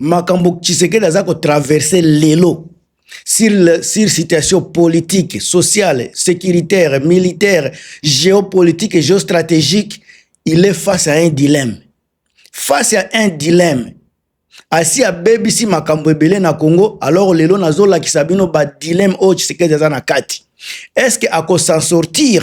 makambo tshisekedi aza kotraverse lelo sur, le, sur situation politique sociale sécuritaire militaire géopolitique et géostratégique il est face à un dilemme face à un dilemme asi abebisi makambo ebele na congo alors lelo nazolakisa bino badilemme oyo tshisekedi aza na kati est ce que akosan sortir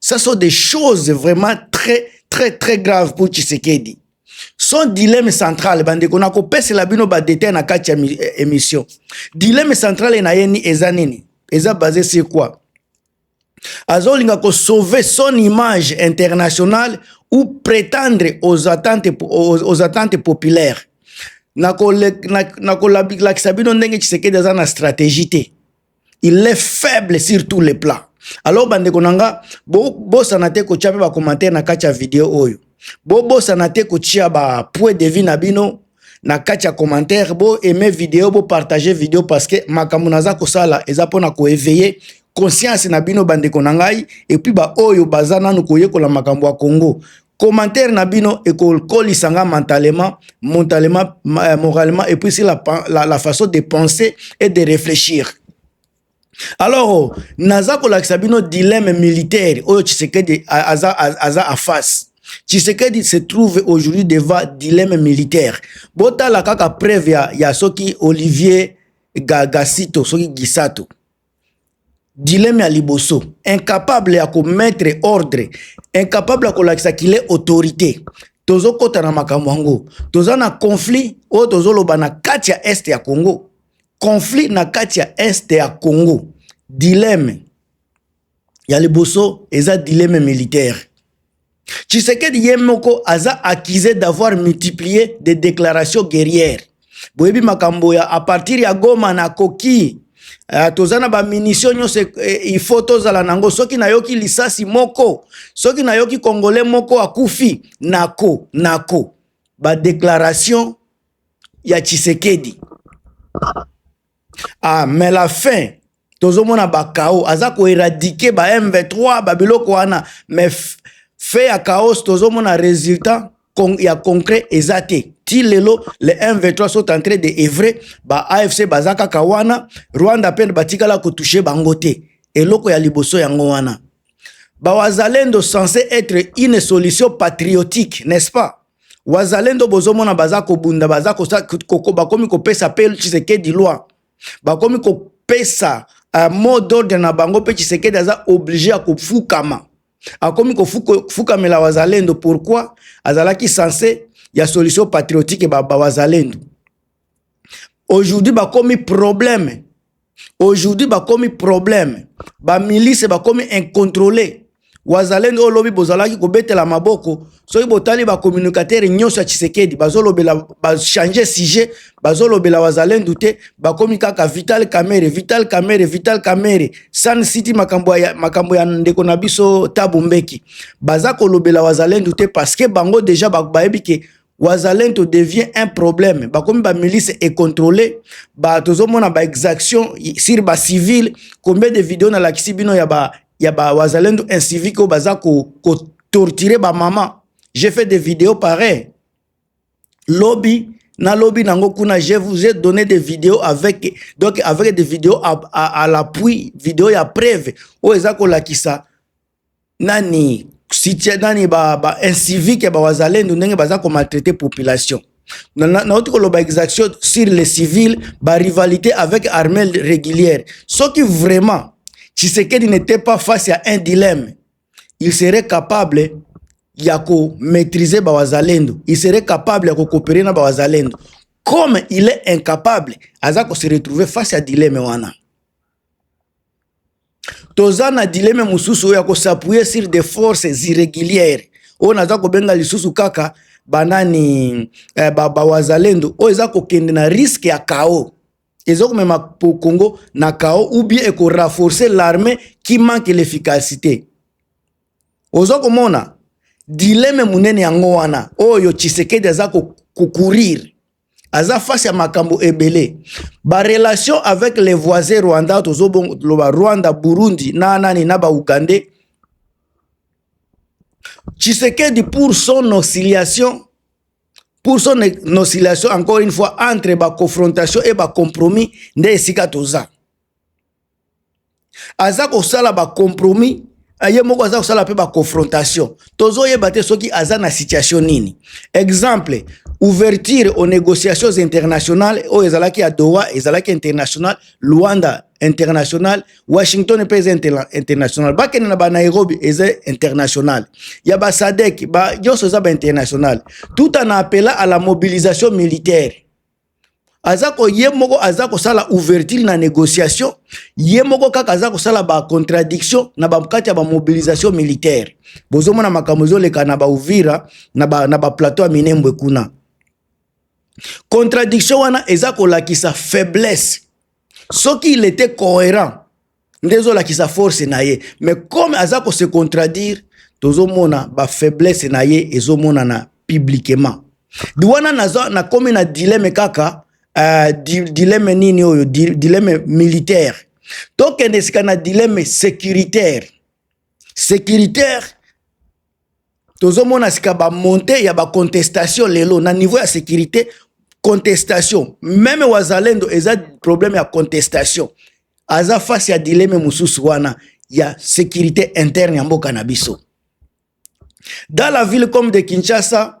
Ça sont des choses vraiment très très très graves pour Tshisekedi. Son dilemme central bande kona ko pese la bino ba détails na kati eh, émission. Dilemme central na yeni eza nini? Eza basé sur quoi? azolinga ko sauver son image internationale ou prétendre aux attentes, aux, aux attentes populaires nakolakisa bino ndenge tshisekedi aza na stratégie te il est faible sur tous les plans alors bandeko na nga bobosana te kotya mpe bacommentaire na kati ya video oyo bobosana te kotya bapoint de vie na bino na kati ya commentaire bo aime video bo partage video parce que makambo naza kosala eza mpona koeveille conscience na bino bandeko na ngai epuis baoyo baza nanu koyekola makambo ya congo commentaire na bino ekokolisa nga mentalement mentalement euh, moralement et puis la, la, la façon de penser et de réfléchir alors naza kolakisa bino dilemme militaire oyo tshisekedi aza, aza en face tshisekedi se trouve aujourd'hui devant dilemme militaire botala kaka preuve ya, ya soki olivier gagasito soki gisato Dileme ya liboso, incapable ya ko mettre ordre, incapable ya kolakisa qu'il est autorite. Tozokota na makambo yango, toza na conflit oyo tozoloba na kati ya est ya Congo, conflit na kati ya est ya Congo. Dileme ya liboso eza dileme militaire. Tshisekedi ye moko aza accusé d'avoir multiplié des déclarations guerrières. Boyebi makambo ya à partir ya Goma na koki Uh, toza na bamunisio nyonso eh, eh, ifo tozala na yango soki nayoki lisasi moko soki nayoki kongole moko akufi nako nako badeklaration ya tshisekedi ah mais la fin tozomona bakao aza koeradike ba m23 babiloko wana mais fe ya chaos tozomona résultat con, ya concret eza te ti lelo le m23 sont en train de evre ba afc baza kaka wana rwanda mpe batikala kotouche bango te eloko ya liboso yango wana bawazalendo censé être une solution patriotique n'est-ce pas wazalendo bozomona baza kobunda baza bakomi kopesa mpe tshisekedi loi bakomi kopesa uh, mot d'ordre na bango mpe tshisekedi aza oblige ya kofukama akomi kofukamela wazalendo pourquoi azalaki sense ya solution patriotique bawazalendo ba aujourd'hui bakomi problème aujourd'hui bakomi problème bamilice bakomi incontrole wazalendo oyo lobi bozalaki kobetela maboko soki botali bacommunicatere nyonso ya tshisekedi bazolobela bachange sujet bazolobela wazalendo te bakomi kaka vital camere vital camere vital camere san city makambo ya, makambo ya ndeko na biso tabu mbeki baza kolobela wazalendo te parce que bango deja bayebi ke wazalento devient un problème bakomi bamilice econtrole ba tozomona baexaction sur bacivile combien de video nalakisi bino ya ba ya ba wazalendo incivique oyo baza kotortire ko bamama j'ai fait des vidéos pareil lobi na lobi nango kuna je vous ai donné des vidéos avec donc avec des vidéos à, à, à l'appui vidéo ya preuve oyo eza kolakisa nani sitia nani ba, ba incivique ba wazalendo ndenge baza ko maltraiter population nauti koloba exaction sur les civils ba rivalité avec armée régulière soki vraiment Tshisekedi n'était pas face à un dilemme il serait capable ya ko maîtriser ba wazalendo il serait capable ya ko coopérer na ba wazalendo comme il est incapable aza ko se retrouver face à dilemme wana toza na dileme mosusu oyo ya kosapuye sur des forces irrégulières oyo naza kobenga lisusu kaka banani eh, bawazalendo ba oyo eza kokende na riske ya kao eza komema congo na kao ou bien ekorafforce l'armée qui manque l'efficacité oza komona dileme monene yango wana oyo tshisekedi aza kokurir aza face ya makambo ebele barelation avec les voisins rwanda tozoloba rwanda burundi na nani na baugandais tshisekedi pour son oscillation pour son oscillation encore une fois entre baconfrontation et bacompromis nde esika toza aza kosala ba compromis ye moko aza kosala mpe baconfrontation tozoyeba te soki aza na situation nini exemple ouverture aux négociations internationales oyo ezalaki ya doha ezalaki international luanda international washington mpe eza interna international bakende na banairobi eza international ya basadek ba nyonso eza bainternational tout en appela à la mobilisation militaire aza ko ye moko aza kosala ouverture na négociation ye moko kaka aza kosala ba contradiction na bakati ya ba mobilisation militaire bozomona makambo ezoleka na bauvira na ba, na ba plateau ya minembwe kuna contradiction wana eza kolakisa faiblesse soki il était cohérent nde ezolakisa force na ye mais comme aza ko se contradire tozomona ba faiblesse na ye ezomonana publiquement di wana naza nakomi na dileme kaka uh, di, dileme nini oyo di, dileme militaire tokende sika na dileme sécuritaire sécuritaire tozomona sika bamonte ya bacontestation lelo na niveau ya sécurité contestation meme wazalendo eza problème ya contestation aza face ya dileme mosusu wana ya sécurité interne ya mboka na biso dans la ville comme de kinshasa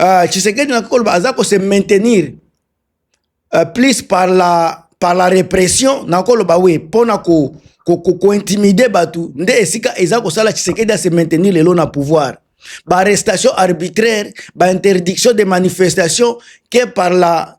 uh, Tshisekedi na koloba aza ko se maintenir uh, plus par la par la répression na koloba oui pona ko ko, ko, ko intimider batu nde esika eza kosala Tshisekedi a se maintenir lelo na pouvoir ba arrestation arbitraire ba interdiction de manifestation que par la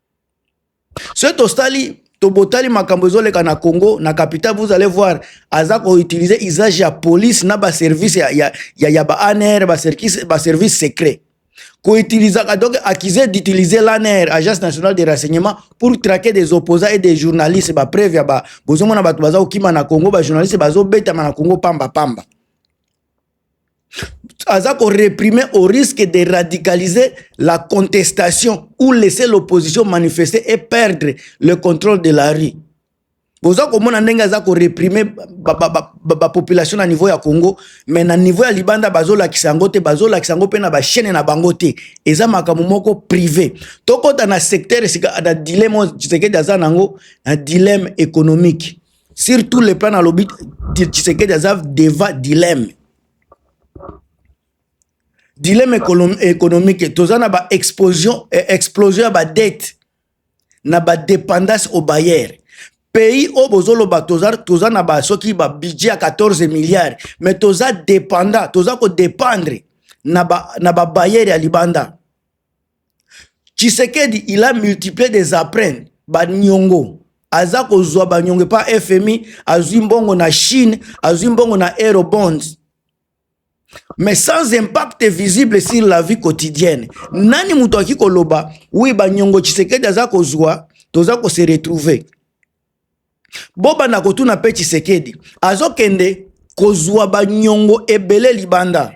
soki tosali tobotali makambo ezoleka na congo na capital vous allez voir aza koutilize usage ya police na baservice ya, ya, ya, ya ba anr baservice secret koutilisaka donc accusé d'utiliser l'ANR, Agence nationale de renseignement, pour traquer des opposants et des journalistes. Ba preuve ya ba bozomona bato baza kokima na Congo, ba journalistes bazobetama na Congo pamba pamba. aza ko reprimer au risque de radicaliser la contestation ou laisser l'opposition manifester et perdre le contrôle de la rue boza komona ndenge aza ko reprimer bapopulation na niveau ya congo mais na niveau ya libanda bazolakisa yango te bazolakisa yango mpe na bachaine na bango te eza makambo moko privé tokota na secteur esika na dileme tshisekedi aza na yango na dileme économique sur tous les plans nalobi tshisekedi aza deva dilemme dilemme économique toza na baexplosion eh, explosion ya badette na badépendance au bailleur pays oyo bozoloba toza, toza na ba soki ba budget ya 14 milliards mais toza dépendant toza kodépendre na babayere ba ya libanda tshisekedi il a multiplier des apprene banyongo aza kozwa banyongo epa fmi azwi mbongo na chine azwi mbongo na aerobonds mais sans impact visible sur la vie quotidienne nani moto aki koloba wi banyongo tshisekedi aza kozwa toza kose retrouver bobanda kotuna mpe tshisekedi azokende kozwa banyongo ebele libanda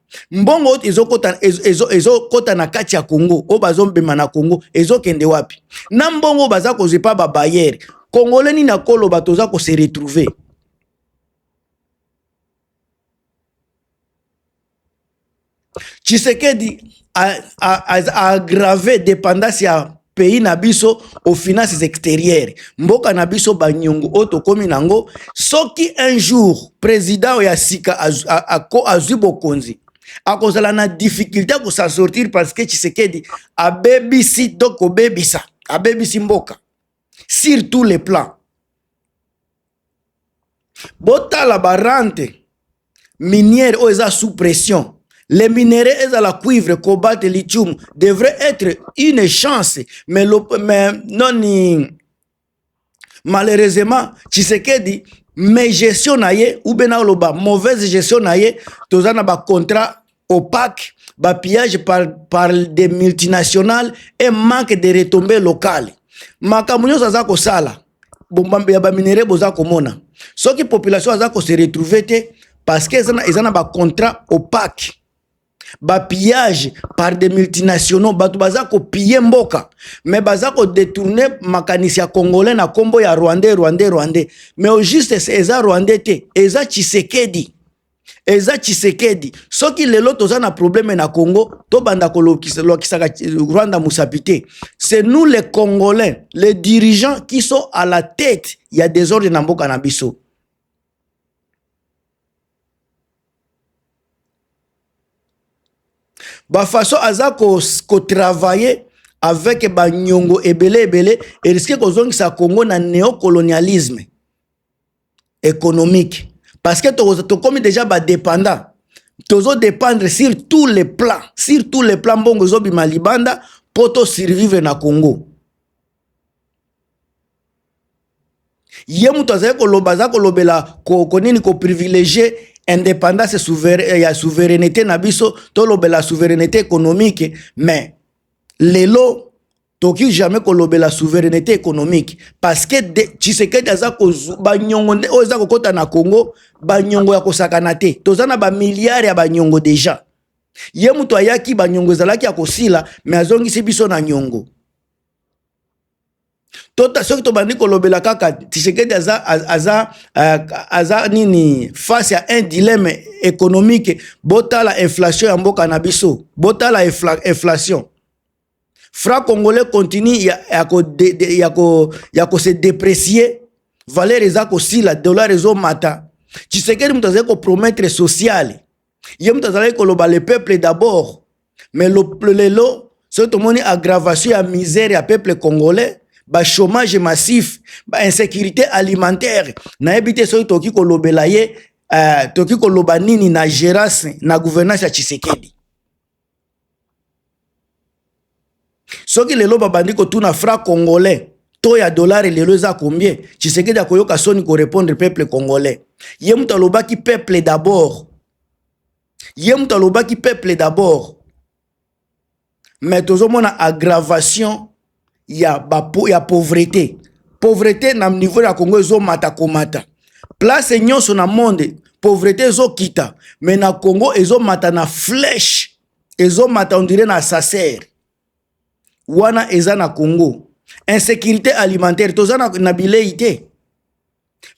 mbongo oyo ezokota ezo, ezo kota na kati ya Congo oyo bazombema na Congo ezokende wapi? na mbongo baza kozwa epa babayere kongole nini akoloba toza kose retrouver Tshisekedi a, a, a, a aggrave dépendance ya pays na biso au finances extérieures mboka na biso banyongo oyo tokomi nango soki un jour président ya sika azwi bokonzi akozala na difficulté ya kosa sortir parce que tshisekedi abebisi to kobebisa abebisi mboka sur tous les plans botala barante minière oyo eza sous pression les minerais ezala cuivre cobalt lithium devrait être une chance mais, le, mais noni malheureusement tshisekedi mais gestion na ye ou bien naoloba mauvaise gestion na ye toza na bacontrat opaque, ba pillage par, par des multinationales et manque de retombées locales. Makambo nyonso aza kosala bombambe ya baminere boza komona soki population aza kose retrouve te parce que eza na bacontrat opaque bapillage par des multinationaux bato baza kopille mboka mais baza kodetourne makanisi ya congolais na nkombo ya rwandais rwandais rwandais mais au juste eza rwandais te eza tshisekedi eza tshisekedi soki lelo toza na probleme na congo tobanda kolokisaka rwanda mosapi te c'est nous les congolais les dirigeants qui sont à la tête ya desordre na mboka na biso bafaso aza kotravaille ko avec banyongo ebele ebele eriske kozongisa congo na neocolonialisme économique parce que to to komi déjà ba dépendant tozo dépendre sur tous les plans sur tous les plans mbongo zo bima libanda poto survivre na Congo ye moto azali koloba aza kolobela konini ko, ko privilégier indépendance souverain, eh, ya souveraineté na biso tolobela souveraineté économique mais lelo toki jamais kolobela souveraineté économique parce que tshisekedi aza banyongo nde oyo eza kokɔta na congo banyongo ya kosakana te toza na bamilliard ya banyongo deja ye moto ayaki banyongo ezalaki ya kosila me azongisi biso na nyongo tota soki tobandi kolobela kaka tshisekedi aza, aza, aza, aza nini face ya un dilemme économique botala inflation ya mboka na biso botala inflation Fra congolais continue ya, ya, ko de, de, ya, ko, ya ko se deprecier valeur eza kosila dollar ezomata tshisekedi moto azali kopromettre sociale ye moto azalaki koloba le peuple d'abord mais lelo soki tomoni aggravation ya misère ya peuple congolais bachômage massif bainsécurité alimentaire nayebi te soki tokoki kolobela ye uh, tokoki koloba nini na gérance na gouvernance ya tshisekedi soki lelo babandi kotuna fra congolais to ya dolare lelo eza combien tshisekedi akoyoka soni korepondre peuple congolais ye moto alobaki peuple d'abord ye moto alobaki peuple d'abord mais tozomona aggravation ya, ba, ya pauvrete pauvrete na niveau ya congo ezomata komata place nyonso na monde pauvrete ezokita me na congo ezomata na flèche ezomata ondire na sacer wana eza na congo insécurité alimentaire toza na, na bilei te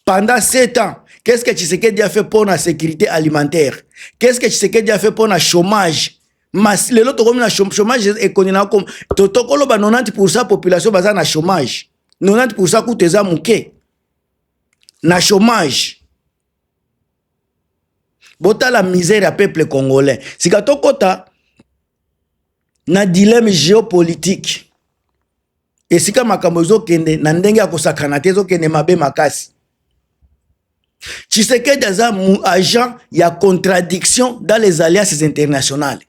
Pendant 7 ans, qu'est-ce que Tshisekedi a fait pour la sécurité alimentaire Qu'est-ce que Tshisekedi a fait pour le chômage Mas, lelo tokomi na chômage ekoni na kom to tokolo ba 90% population baza na chômage 90% kutu eza muke na chômage botala misère ya peuple congolais sika tokota na dilemme geopolitique esika makambo ezokende na ndenge ya kosakana te ezokende mabe makasi tshisekedi aza agent ya contradiction dans les alliances internationales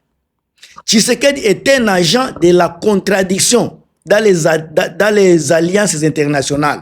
tshisekedi est un agent de la contradiction dans les, dans les alliances internationales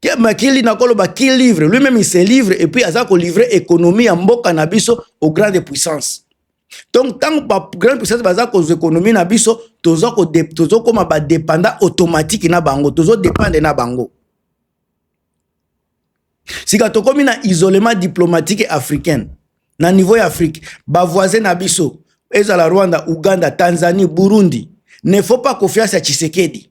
Ke makili na koloba ki livre lui même il se livre et puis aza ko livrer économie ya mboka na biso au grande puissance. Donc tant ba grande puissance baza ko économie na biso tozo ko tozo koma ba dépendant automatique na bango tozo dépendre na bango. Sika tokomi na isolement diplomatique africain na niveau ya Afrique ba voisins na biso ezala Rwanda, Ouganda, Tanzanie, Burundi ne faut pas confiance à Tshisekedi.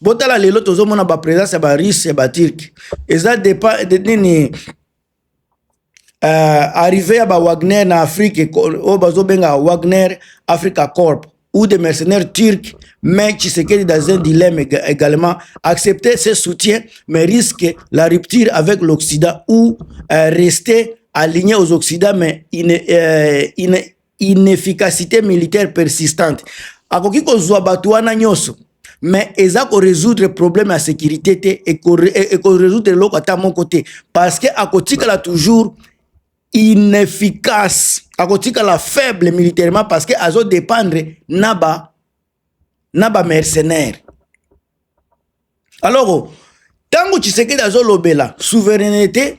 botala lelo tozomona bapresence ya barusse ya baturke eza depa de nini uh, arrive ya bawagner na afrique oyo bazobenga wagner africa corp ou des mercenaires turcs mais Tshisekedi dans un dilemme également accepter ses soutiens mais risque la rupture avec l'Occident ou euh, rester aligné aux Occidents mais il ne, euh, il ne, inefficacité militaire persistante akoki kozwa bato wana nyonso mais eza ko résoudre problème ya sécurité te e ko e, e résoudre eloko ata moko te parce que akotikala toujours inefficace akotikala faible militairement parce que azo dépendre na ba na ba mercenaire alors ntango tshisekedi azolobela souveraineté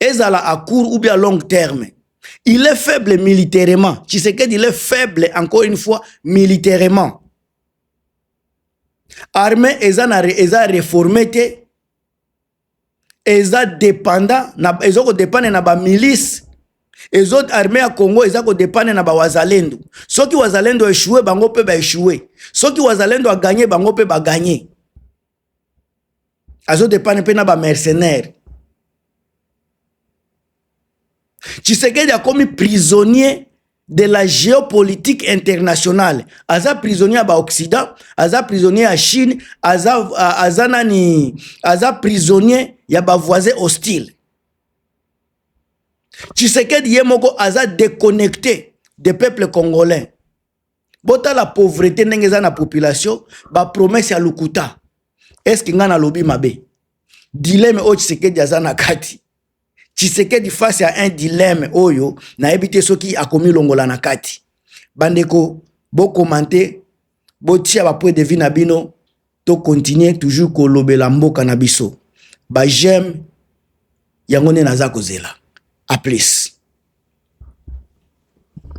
ezala à court ou bien à long terme il est faible militairement tshisekedi il est faible encore une fois militairement armée eza na eza réformé te eza dépendant na ezo ko dépendre na ba milice ezo armée ya Congo eza ko dépendre na ba wazalendo soki wazalendo échoué bango pe ba échoué soki wazalendo a gagné bango pe ba gagné azo depane mpe na ba mercenaire tshisekedi akomi prisonnier de la géopolitique internationale aza prisonnier ya baoccident aza prisonnier ya chine aza, aza nani aza prisonnier ya bavoisin hostile tshisekedi ye moko aza déconnecté de peuple congolais botala pauvrete ndenge eza na population bapromese ya lokuta eske ngai nalobi mabe dileme oyo tshisekedi aza na kati tshisekedi face ya un dileme oyo nayebi te soki akomilongola na kati bandeko bokomante botia bapoint de vie na bino tokontinue toujours kolobela mboka na biso bajeme yango nde naza kozela a plus